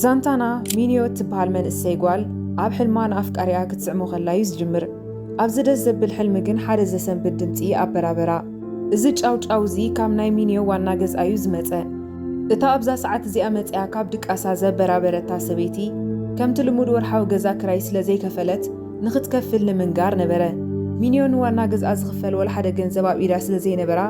ዛንታና፣ ሚንዮ እትበሃል መንእሰይ ጓል፣ ኣብ ሕልማ ንኣፍቃሪኣ ክትስዕሞ ከላ እዩ ዝጅምር። ኣብዚ ደስ ዘብል ሕልሚ ግን ሓደ ዘሰንብድ ድምጺ ኣበራበራ። እዚ ጫውጫው እዚ ካብ ናይ ሚንዮ ዋና ገዝኣ እዩ ዝመጸ። እታ ኣብዛ ሰዓት እዚኣ መጺኣ ካብ ድቃሳ ዘበራበረታ ሰበይቲ፣ ከምቲ ልሙድ ወርሓዊ ገዛ ክራይ ስለ ዘይከፈለት፣ ንኽትከፍል ንምንጋር ነበረ። ሚንዮ ንዋና ገዝኣ ዝኽፈል ዋላ ሓደ ገንዘብ ኣብ ኢዳ ስለ ዘይነበራ፣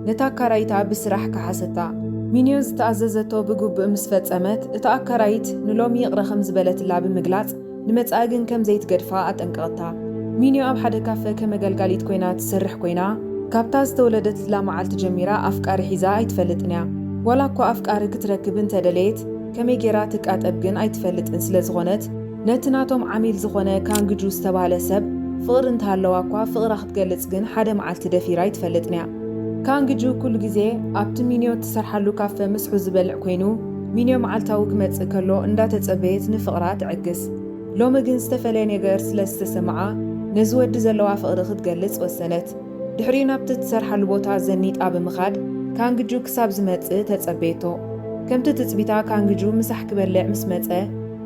ነታ ኣካራይታ ብስራሕ ከሓሰታ። ሚንዮ ዝተኣዘዘቶ ብግቡእ ምስ ፈጸመት፣ እታ ኣካራይት ንሎሚ ይቕረ ከም ዝበለትላ ብምግላጽ፣ ንመጻኢ ግን ከም ዘይትገድፋ ኣጠንቀቐታ። ሚንዮ ኣብ ሓደ ካፈ ከም ኣገልጋሊት ኰይና ትሰርሕ ኰይና፣ ካብታ ዝተወለደትላ መዓልቲ ጀሚራ ኣፍቃሪ ሒዛ ኣይትፈልጥን እያ። ዋላ'ኳ ኣፍቃሪ ክትረክብ እንተ ደለየት፣ ከመይ ገይራ ትቃጠብ ግን ኣይትፈልጥን ስለ ዝዀነት፣ ነቲ ናቶም ዓሚል ዝኾነ ካንግጁ ዝተባህለ ሰብ ፍቕሪ እንተሃለዋ'ኳ ፍቕራ ክትገልጽ ግን ሓደ መዓልቲ ደፊራ ኣይትፈልጥን'ያ። ካንግጁ ኩሉ ግዜ ኣብቲ ሚንዮ እትሰርሓሉ ካፈ ምስሑ ዝበልዕ ኰይኑ፣ ሚንዮ መዓልታዊ ክመጽእ ከሎ እንዳተጸበየት ንፍቕራ ትዕግስ። ሎሚ ግን ዝተፈለየ ነገር ስለ ዝተሰመዓ ነዚ ወዲ ዘለዋ ፍቕሪ ክትገልጽ ወሰነት። ድሕሪኡ ናብቲ እትሰርሓሉ ቦታ ዘኒጣ ብምኻድ ካንግጁ ክሳብ ዝመጽእ ተጸበየቶ። ከምቲ ትጽቢታ ካንግጁ ምሳሕ ክበልዕ ምስ መጸ፣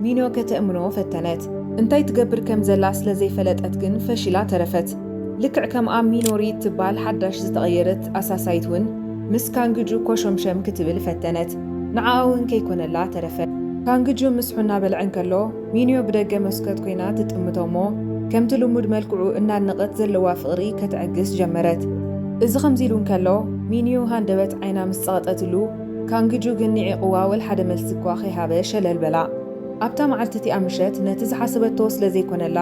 ኒኖ ከተእምኖ ፈተነት። እንታይ ትገብር ከም ዘላ ስለ ዘይፈለጠት ግን ፈሺላ ተረፈት። ልክዕ ከምኣ ሚኖሪ እትባል ሓዳሽ ዝተቐየረት ኣሳሳይት ውን ምስ ካንግጁ ኮሾምሸም ክትብል ፈተነት። ንዓኣ ውን ከይኮነላ ተረፈ። ካንግጁ ምስሑ እናበልዐ እንከሎ ሚንዮ ብደገ መስኮት ኮይና ትጥምቶ እሞ ከምቲ ልሙድ መልክዑ እናድነቐት ዘለዋ ፍቕሪ ከተዕግስ ጀመረት። እዚ ከምዚ ኢሉ እንከሎ ሚንዩ ሃንደበት ዓይና ምስ ጸቐጠትሉ፣ ካንግጁ ግን ንዒቕዋ ወልሓደ መልሲ'ኳ ከይሃበ ሸለል በላ። ኣብታ መዓልቲ'ቲኣ ምሸት ነቲ ዝሓሰበቶ ስለ ዘይኮነላ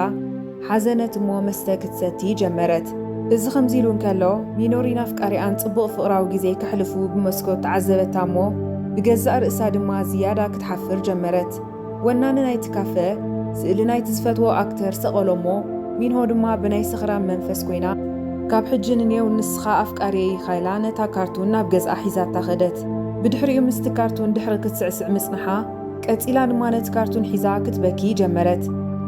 ሓዘነት'ሞ መስተ ክትሰቲ ጀመረት። እዚ ከምዚ ኢሉ እንከሎ ሚኖሪን ኣፍቃሪኣን ጽቡቕ ፍቕራዊ ግዜ ከሕልፉ ብመስኮት ተዓዘበታ'ሞ ብገዛእ ርእሳ ድማ ዝያዳ ክትሓፍር ጀመረት። ወናኒ ናይቲ ካፈ ስእሊ ናይቲ ዝፈትዎ ኣክተር ሰቐሎ እሞ ሚንሆ ድማ ብናይ ሰኽራም መንፈስ ኮይና ካብ ሕጂ ንኔው ንስኻ ኣፍቃርየይ ኢኻ ኢላ ነታ ካርቱን ናብ ገዝኣ ሒዛታ ከደት። ብድሕሪኡ ምስቲ ካርቱን ድሕሪ ክትስዕስዕ ምጽንሓ ቀጺላ ድማ ነቲ ካርቱን ሒዛ ክትበኪ ጀመረት።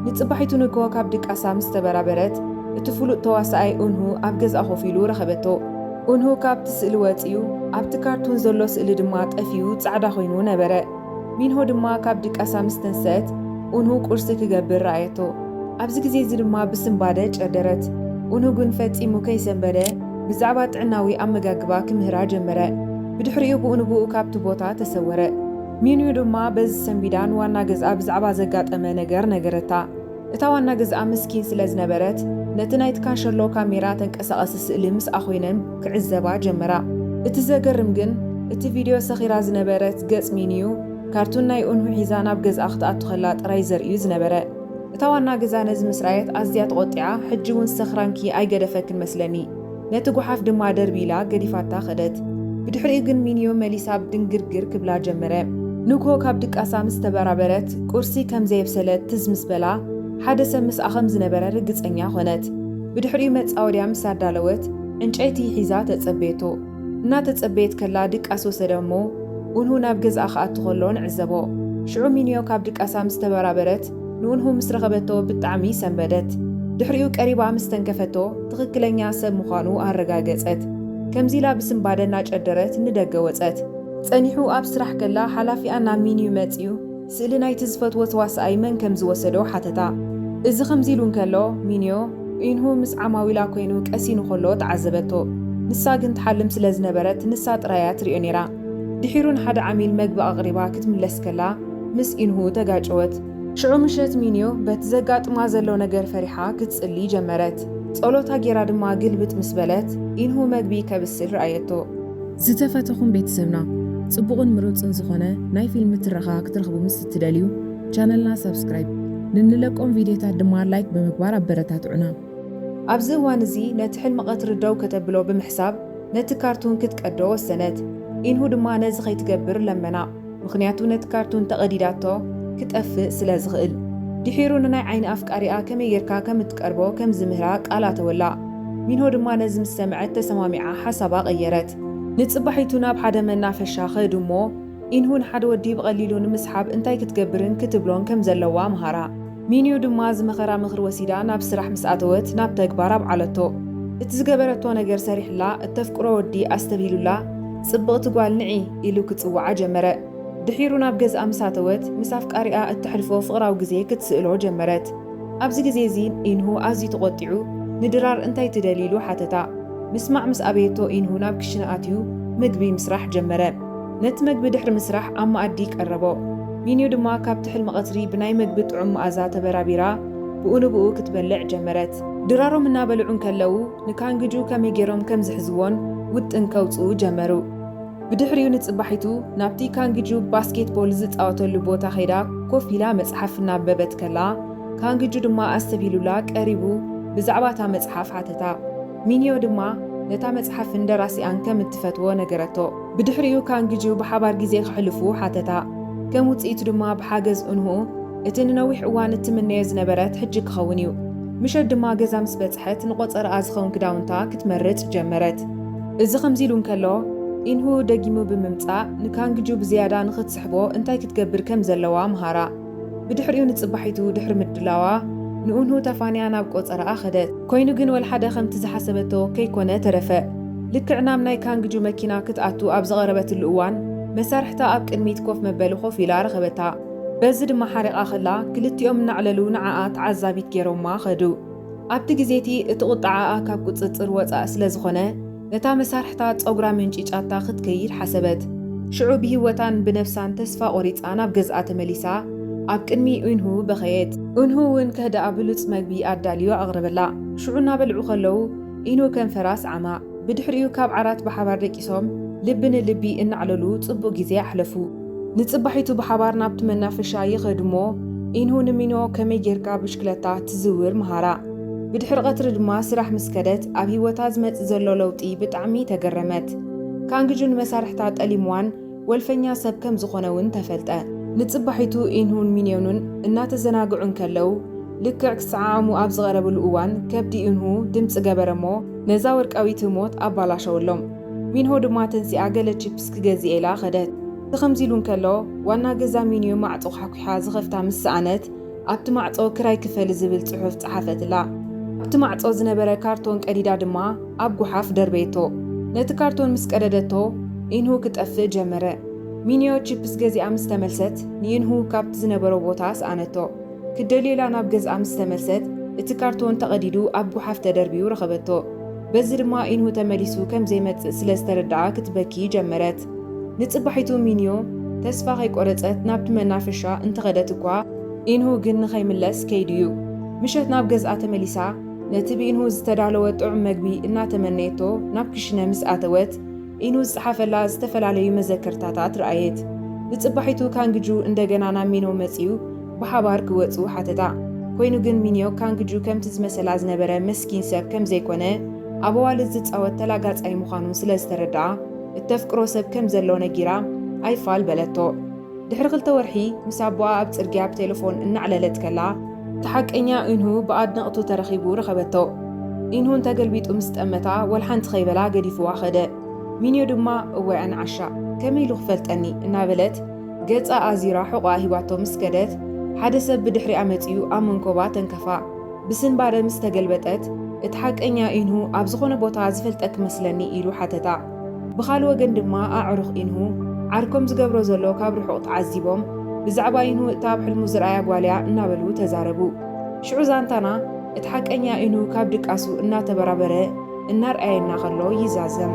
ንጽባሒቱ ንግሆ ካብ ድቃሳ ምስ ተበራበረት እቲ ፍሉጥ ተዋሳኣይ ኡንሁ ኣብ ገዝኣ ኮፍ ኢሉ ረኸበቶ። ኡንሁ ካብቲ ስእሊ ወጺኡ ኣብቲ ካርቱን ዘሎ ስእሊ ድማ ጠፊኡ ጻዕዳ ኮይኑ ነበረ። ሚንሆ ድማ ካብ ድቃሳ ምስ ተንሰአት ኡንሁ ቁርሲ ክገብር ረኣየቶ። ኣብዚ ግዜ እዚ ድማ ብስንባደ ጨደረት። ኡንሁ ግን ፈጺሙ ከይሰንበደ ብዛዕባ ጥዕናዊ ኣመጋግባ ክምህራ ጀመረ። ብድሕሪኡ ብኡንብኡ ካብቲ ቦታ ተሰወረ። ሚንዩ ድማ በዚ ሰንቢዳ ንዋና ገዝኣ ብዛዕባ ዘጋጠመ ነገር ነገረታ። እታ ዋና ገዝኣ ምስኪን ስለ ዝነበረት፣ ነቲ ናይቲ ካሸሎ ካሜራ ተንቀሳቓሲ ስእሊ ምስኣ ኮይነን ክዕዘባ ጀመራ። እቲ ዘገርም ግን፣ እቲ ቪድዮ ሰኺራ ዝነበረት ገጽ ሚኒዩ ካርቱን ናይ ኡንሁ ሒዛ ናብ ገዝኣ ክትኣቱ ከላ ጥራይ ዘርኢ'ዩ ዝነበረ። እታ ዋና ገዛ ነዚ ምስ ረኣየት ኣዝያ ተቖጢዓ፣ ሕጂ'ውን ሰኽራንኪ ኣይገደፈክን መስለኒ። ነቲ ጐሓፍ ድማ ደርብይ ኢላ ገዲፋታ ከደት። ብድሕሪኡ ግን ሚንዮ መሊሳ ድንግርግር ክብላ ጀመረ። ንግሆ ካብ ድቃሳ ምስ ተበራበረት፣ ቍርሲ ከም ዘየብሰለት ትዝ ምስ በላ፣ ሓደ ሰብ ምስኣ ከም ዝነበረ ርግጸኛ ኰነት። ብድሕሪኡ መጻወድያ ምስ ኣዳለወት፣ ዕንጨይቲ ሒዛ ተጸበየቶ። እናተጸበየት ከላ ድቃስ ወሰደ እሞ፣ ኡንሁ ናብ ገዝኣ ክኣቱ ከሎ ንዕዘቦ። ሽዑ ሚንዮ ካብ ድቃሳ ምስ ተበራበረት፣ ንውንሁ ምስ ረኸበቶ ብጣዕሚ ሰንበደት። ድሕሪኡ ቀሪባ ምስ ተንከፈቶ ትኽክለኛ ሰብ ምዃኑ ኣረጋገጸት። ከምዚ ኢላ ብስንባደ እናጨደረት ንደገ ወጸት። ጸኒሑ ኣብ ስራሕ ከላ ሓላፊኣ ናብ ሚንዩ መጺኡ ስእሊ ናይቲ ዝፈትዎ ተዋሳኣይ መን ከም ዝወሰዶ ሓተታ። እዚ ከምዚ ኢሉ እንከሎ ሚንዮ ኡይንሁ ምስ ዓማዊላ ኮይኑ ቀሲኑ ከሎ ተዓዘበቶ። ንሳ ግን ትሓልም ስለ ዝነበረት ንሳ ጥራይ እያ ትሪኦ ነይራ። ድሒሩ ንሓደ ዓሚል መግቢ ኣቕሪባ ክትምለስ ከላ፣ ምስ ኢንሁ ተጋጨወት። ሽዑ ምሸት ሚንዮ በቲ ዘጋጥማ ዘሎ ነገር ፈሪሓ ክትጽሊ ጀመረት። ጸሎታ ጌራ ድማ ግልብጥ ምስ በለት ኢንሁ መግቢ ከብስል ረኣየቶ። ዝተፈተኹም ቤተሰብና ጽቡቕን ምሩጽን ዝኾነ ናይ ፊልም ትረኻ ክትረኽቡ ምስ እትደልዩ ቻነልና ሳብስክራይብ፣ ንንለቆም ቪድዮታት ድማ ላይክ ብምግባር ኣበረታትዑና። ኣብዚ እዋን እዚ ነቲ ሕልሚ ቀትሪ ደው ከተብሎ ብምሕሳብ ነቲ ካርቱን ክትቀዶ ወሰነት። ኢንሁ ድማ ነዚ ከይትገብር ለመና። ምኽንያቱ ነቲ ካርቱን ተቐዲዳቶ ክጠፍእ ስለ ዝኽእል። ድሒሩ ንናይ ዓይኒ ኣፍቃሪኣ ከመይ ጌርካ ከም እትቀርቦ ከም ዝምህራ ቃል ኣተወላ። ሚንሆ ድማ ነዚ ምስ ሰምዐት ተሰማሚዓ ሓሳባ ቀየረት። ንጽባሒቱ ናብ ሓደ መናፈሻ ከዱ እሞ ኢንሁ ንሓደ ወዲ ብቐሊሉ ንምስሓብ እንታይ ክትገብርን ክትብሎን ከም ዘለዋ መሃራ። ሚንዩ ድማ ዝመኸራ ምኽሪ ወሲዳ ናብ ስራሕ ምስ ኣተወት ናብ ተግባር ኣብዓለቶ። እቲ ዝገበረቶ ነገር ሰሪሕላ እተፍቅሮ ወዲ ኣስተብሂሉላ ጽብቕቲ ጓል ንዒ ኢሉ ክጽውዓ ጀመረ። ድሒሩ ናብ ገዝኣ ምስ ኣተወት ምስ ኣፍቃሪኣ እተሕልፎ ፍቕራዊ ግዜ ክትስእሎ ጀመረት። ኣብዚ ግዜ እዚ ኢንሁ ኣዝዩ ተቖጢዑ ንድራር እንታይ ትደሊ ኢሉ ሓተታ። ምስማዕ ምስ ኣበየቶ ኢንሁ ናብ ክሽነ ኣትዩ ምግቢ ምስራሕ ጀመረ። ነቲ መግቢ ድሕሪ ምስራሕ ኣብ መኣዲ ቀረቦ። ሚንዩ ድማ ካብቲ ሕልሚ ቐትሪ ብናይ መግቢ ጥዑም መኣዛ ተበራቢራ ብኡ ንብኡ ክትበልዕ ጀመረት። ድራሮም እናበልዑ እንከለዉ ንካንግጁ ከመይ ገይሮም ከም ዝሕዝዎን ውጥን ከውጽኡ ጀመሩ። ብድሕሪኡ ንጽባሒቱ ናብቲ ካንግጁ ባስኬት ቦል ዝጻወተሉ ቦታ ከይዳ ኮፍ ኢላ መጽሓፍ እናንበበት ከላ ካንግጁ ድማ ኣስተብሂሉላ ቀሪቡ ብዛዕባ እታ መጽሓፍ ሓተታ። ሚንዮ ድማ ነታ መጽሓፍን ደራሲኣን ከም እትፈትዎ ነገረቶ። ብድሕሪኡ ካንግጁ ብሓባር ግዜ ከሕልፉ ሓተታ። ከም ውጽኢቱ ድማ ብሓገዝ ኡንሁ እቲ ንነዊሕ እዋን እትምነዮ ዝነበረት ሕጂ ክኸውን እዩ። ምሸት ድማ ገዛ ምስ በጽሐት ንቖጸራኣ ዝኸውን ክዳውንታ ክትመርጽ ጀመረት። እዚ ከምዚ ኢሉ እንከሎ ኢንሁ ደጊሙ ብምምጻእ ንካንግጁ ብዝያዳ ንኽትስሕቦ እንታይ ክትገብር ከም ዘለዋ መሃራ። ብድሕሪኡ ንጽባሒቱ ድሕሪ ምድላዋ ንኡንሁ ተፋንያ ናብ ቆጸራኣ ከደት። ኮይኑ ግን ወልሓደ ከምቲ ዝሓሰበቶ ከይኮነ ተረፈ። ልክዕ ናብ ናይ ካንግጁ መኪና ክትኣቱ ኣብ ዝቐረበትሉ እዋን መሳርሕታ ኣብ ቅድሚት ኮፍ መበሊ ኮፍ ኢላ ረኸበታ። በዚ ድማ ሓሪቓ ከላ ክልቲኦም እናዕለሉ ንዓኣ ተዓዛቢት ጌሮማ ከዱ። ኣብቲ ግዜቲ እቲ ቁጥዓኣ ካብ ቁጽጽር ወጻኢ ስለ ዝኾነ፣ ነታ መሳርሕታ ጸጉራ መንጪጫታ ክትከይድ ሓሰበት። ሽዑ ብሂወታን ብነብሳን ተስፋ ቆሪጻ ናብ ገዝኣ ተመሊሳ ኣብ ቅድሚ ኡንሁ በኸየት። ኡንሁ እውን ከህድኣ ብሉጽ መግቢ ኣዳልዩ ኣቕረበላ። ሽዑ እናበልዑ ከለዉ ኢኑ ከንፈራ ስዓማ። ብድሕሪኡ ካብ ዓራት ብሓባር ደቂሶም ልቢ ንልቢ እናዕለሉ ጽቡቕ ግዜ ኣሕለፉ። ንጽባሒቱ ብሓባር ናብቲ መናፈሻ ይኸዱ'ሞ፣ ኢንሁ ንሚኖ ከመይ ጌርካ ብሽክለታ ትዝውር መሃራ። ብድሕሪ ቀትሪ ድማ ስራሕ ምስ ከደት፣ ኣብ ህይወታ ዝመጽእ ዘሎ ለውጢ ብጣዕሚ ተገረመት። ካንግጁ ንመሳርሕታ ጠሊምዋን ወልፈኛ ሰብ ከም ዝኾነ'ውን ተፈልጠ። ንጽባሒቱ ኢንሁን ሚንዮንን እናተዘናግዑ እንከለው፣ ልክዕ ክሰዓዓሙ ኣብ ዝቐረብሉ እዋን ከብዲ ኢንሁ ድምጺ ገበረ'ሞ ነዛ ወርቃዊት ህሞት ኣባላሸወሎም። ሚንሆ ድማ ተንሲኣ ገለ ቺፕስ ክገዝእ ኢላ ከደት። እዚ ከምዚ ኢሉ እንከሎ ዋና ገዛ ሚንዮ ማዕጾ ዃሕኲሓ ዝኸፍታ ምስ ሰኣነት ኣብቲ ማዕጾ ክራይ ክፈሊ ዝብል ጽሑፍ ጸሓፈትላ። ኣብቲ ማዕጾ ዝነበረ ካርቶን ቀዲዳ ድማ ኣብ ጐሓፍ ደርበየቶ። ነቲ ካርቶን ምስ ቀደደቶ ኢንሁ ክጠፍእ ጀመረ። ሚንዮ ቺፕስ ገዚኣ ምስ ተመልሰት ንኢንሁ ካብቲ ዝነበሮ ቦታ ሰኣነቶ። ክትደልዮ ኢላ ናብ ገዝኣ ምስ ተመልሰት እቲ ካርቶን ተቐዲዱ ኣብ ጐሓፍ ተደርብዩ ረኸበቶ። በዚ ድማ ኢንሁ ተመሊሱ ከም ዘይመጽእ ስለ ዝተረድኣ ክትበኪ ጀመረት። ንጽባሒቱ ሚንዮ ተስፋ ከይቆረጸት ናብቲ መናፈሻ እንተኸደት እኳ ኢንሁ ግን ንኸይምለስ ከይዱ እዩ። ምሸት ናብ ገዝኣ ተመሊሳ ነቲ ብኢንሁ ዝተዳለወ ጥዑም መግቢ እናተመነየቶ ናብ ክሽነ ምስ ኣተወት፣ ኢኑ ዝጸሓፈላ ዝተፈላለዩ መዘከርታታት ረኣየት። ብጽባሒቱ ካንግጁ እንደገና ናብ ሚኖ መጺኡ ብሓባር ክወጹ ሓተታ። ኮይኑ ግን ሚንዮ ካንግጁ ከምቲ ዝመሰላ ዝነበረ መስኪን ሰብ ከም ዘይኮነ ኣብ ኣዋልድ ዝጻወት ተላጋጻይ ምዃኑ ስለ ዝተረድኣ እተፍቅሮ ሰብ ከም ዘሎ ነጊራ ኣይፋል በለቶ። ድሕሪ ክልተ ወርሒ ምስ ኣቦኣ ኣብ ጽርግያ ብቴለፎን እናዕለለት ከላ፣ እቲ ሓቀኛ ኢንሁ ብኣድነቕቱ ተረኺቡ ረኸበቶ። ኢንሁ እንተገልቢጡ ምስ ጠመታ ወላ ሓንቲ ከይበላ ገዲፍዋ ከደ። ሚንዮ ድማ እዋይ ኣነ ዓሻ! ከመይ ኢሉ ክፈልጠኒ? እናበለት ገጻ ኣዚራ ሕቖኣ ሂባቶ ምስ ከደት፣ ሓደ ሰብ ብድሕሪኣ መጺኡ ኣብ መንኮባ ተንከፋ። ብስንባደ ምስ ተገልበጠት፣ እቲ ሓቀኛ ኢንሁ ኣብ ዝኾነ ቦታ ዝፈልጠኪ መስለኒ ኢሉ ሓተታ። ብኻል ወገን ድማ ኣዕሩኽ ኢንሁ ዓርኮም ዝገብሮ ዘሎ ካብ ርሑቕ ተዓዚቦም ብዛዕባ ኢንሁ እታ ኣብ ሕልሙ ዝርኣያ ጓል እያ እናበሉ ተዛረቡ። ሽዑ ዛንታና እቲ ሓቀኛ ኢንሁ ካብ ድቃሱ እናተበራበረ እናርኣየና ከሎ ይዛዘም።